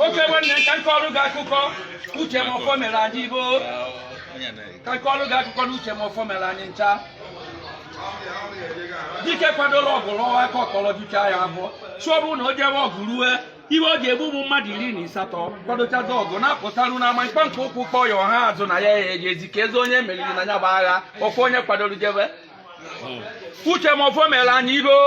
oke nwanne ka m kọọrụ gị akụkọ Uche Mefor mere anyị ibe o ka m kọọrụ gị akụkọ na Uche Mefor mere anyị ncha dike kwadoro ọgụ lụọ aka ọkọlọ jucha ya afọ sị ọ bụrụ na o jewe ọgụ rue iwe ọ ga-egbu ụmụ mmadụ iri na ịsatọ kwadochazi ọgụ na-apụtaru n'ama ikpe nke ụkwụ kpọ ya ọha azụ na ya ya ejezi keezi onye meriri na ya bụ agha ọkwa onye kwadoro jebe Uche Mefor mere anyị iro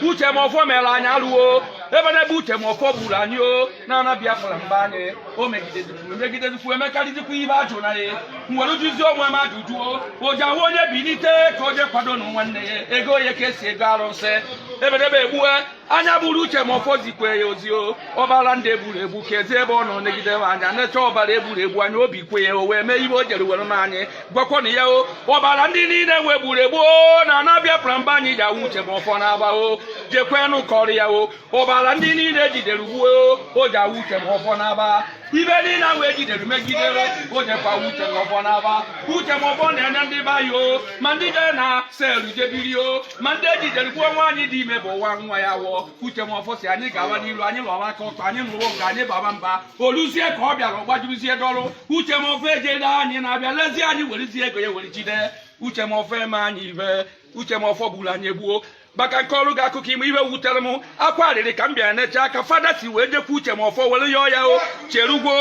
Uche Mefor mere anyị alụ o ebenebe Uche Mefor gburu anyị o n'ana biafra mba anyị o megidedukwu megidedukwu emekarịzikwa ibe a jụrụ na ya m were jụzi onwe m ajụjụ o ji ahụ onye bilite ka o je kwado na nwanne ya ego ya ka esi ego arụsị ebenebe egbue anya hụrụ Uche Mefor zikwe ya ozi o ọbara ndị egburu egbu keezi ebe ọ nọ negide m anya necha ọbara egburu egbu anya obi kwe ya o wee mee ibe o jere were mee anyị gwakwana ya o ọbara ndị niile nwa egburu egbu o n'ana biafra mba anyị ji awụ Uche Mefor n'aba o jekwenụ kọrọ ya o ọbara ndị niile ejidere gbuo o ji awụ Uche Mefor n'aba ibe niile ahụ ejidere megidere o jekwa Uche Mefor n'aba Uche Mefor na-enye ndị be anyị o ma ndị jere na cell jebiri o ma ndị ejidere gbuo nwaanyị dị ime bu nwa nwa ya nwụọ Uche Mefor sị anyị gawa n'iru anyị lụọla aka ọtọ anyị lụrụ nke anyị baba mba o luzie ka ọ bịara ọ gbajuruzie dọrụ Uche Mefor ejere anyị na-abịa lezie anyị werezie ego ya were jide Uche Mefor eme anyị ibe Uche Mefor gburu anyị egbu o ma ka m kọọrụ gị akụkọ ime ibe wutere m akwa arịrị ka m bịara nechaa ka fada si wee jekwu Uche Mefor were yọọ ya o cherugwo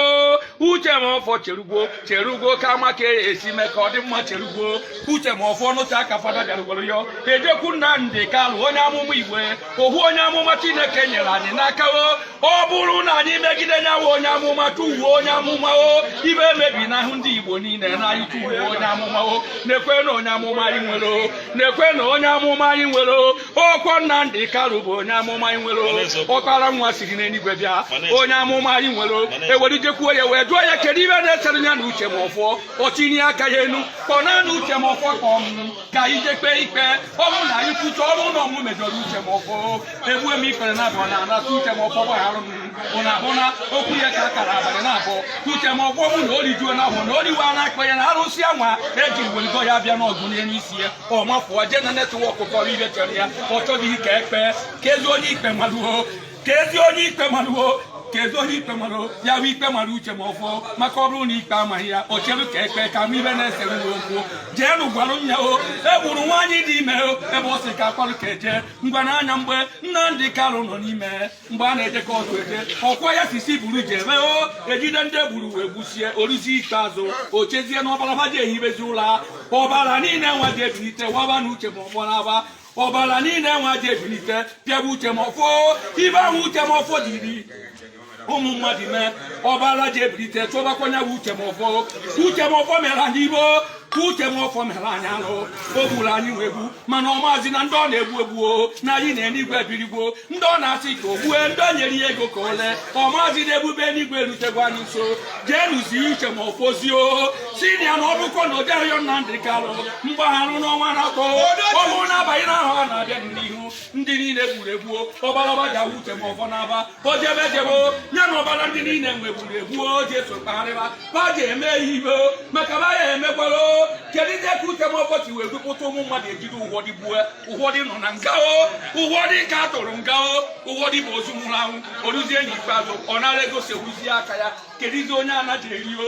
Uche Mefor cherugwo cherugwo ka a ma ka e si mee ka ọ dị mma cherugwo Uche Mefor nụchaa ka fada bịara were yọọ e jekwu Nnamdi Kanu onye amụma igwe ohu onye amụma chineke nyere anyị n'aka o ọ bụrụ na anyị megide ya nwa onye amụma tufuo onye amụma o ibe emebinahụ ndị igbo niile na anyị tufuo onye amụma o nekwenụ onye amụma anyị nwere o nekwenụ onye amụma anyị nwere ọkwa Nnamdi Kanu bụ onye amụma anyị nwere ọkpara nwa siri n'eluigwe bịa onye amụma anyị nwere e were jekwuo ya wee jụọ ya kedu ibe na-esere ya na Uche Mefor o tinye aka ya enu kpọọnụ Uche Mefor kpọọ mụ ka anyị je kpee ikpe ọ bụrụ na anyị kwucha ọ bụrụ na ọ mụ mejọrọ Uche Mefor egbue m ikpere naabọ n'ana sị Uche Mefor gbagharụ m ụna abụ na okwu ya ka a kara abalị naabọ ka Uche Mefor bụ na o rijuo na ahụ na oriwe a na-akpa ya na arụsị anwa eji weligo ya bịa n'ọgụ n'elu isi ya ọ mafụọ jee na network kọrọ ibe chere ya ọ chọghị ka e kpee keezi onye ikpe malụ o keezi onye ikpe malụ o keezi onye ikpe mara ya bụ ikpe mara Uche Mefor maka ọ bụrụ na ikpe amaghị ya o chere ka e kpee ka a ma ibe na-esere n'okwu jeenụ gwara m ya o egburu nwaanyị dị ime o ebe ọ sị ka akwarụ ka eje ngwa n'anya mgbe Nnamdi Kanu nọ n'ime mgbe a na-ejekọ ụzọ eje ọkwa ya si si buru jebe o ejide ndị e gburu wee gbusie o ruzie ikpeazụ o chezie na ọbara ha ji ehibezi ụlọ ọbara niile nwa ji ebilite waba na Uche Mefor n'aba ọbara niile nwa ji ebilite pịaba Uche Mefor ibe ahụ Uche Mefor jiri ụmụ mmadụ mee ọbara ji ebilite chụbakwanye bụ Uche Mefor Uche Mefor mere anyị ibo ka Uche Mefor mere anyị alụ o gburu anyị nwa egbu mana ọ maazị na ndị ọ na-egbu egbu o na anyị n'enigwe ebirigbo ndị ọ na-asị ka o gbue ndị o nyere ya ego ka ole ka ọ maazị na ebube enigwe erutegwo anyị nso jee nụzie Uche Mefor zie ozi na ya na ọ bụkọ na o jeghị yọọ Nnamdi Kanu mgbaghara n'ọnwa na-akpọ ọnwụ na-abanye n'ahụ a na-abịa n'ihu ndị niile e gburu egbu o ọbara ba ji awụ Uche Mefor n'aba o jebe jebe o ya na ọbara ndị niile nwa e gburu egbu o ji eso kpagharịba ba ji eme ya ibe o maka ba ya emekwara o kedu ihe ka Uche Mefor ji wee dupụta ụmụ mmadụ e jide ụfọdụ gbue ụfọdụ nọ na nga o ụfọdụ ka a tụrụ nga o ụfọdụ bụ ozu nwụrụ anwụ o ruzie n'ikpeazụ ọ nara ego sewuzie aka ya keduzi onye anaghị eri o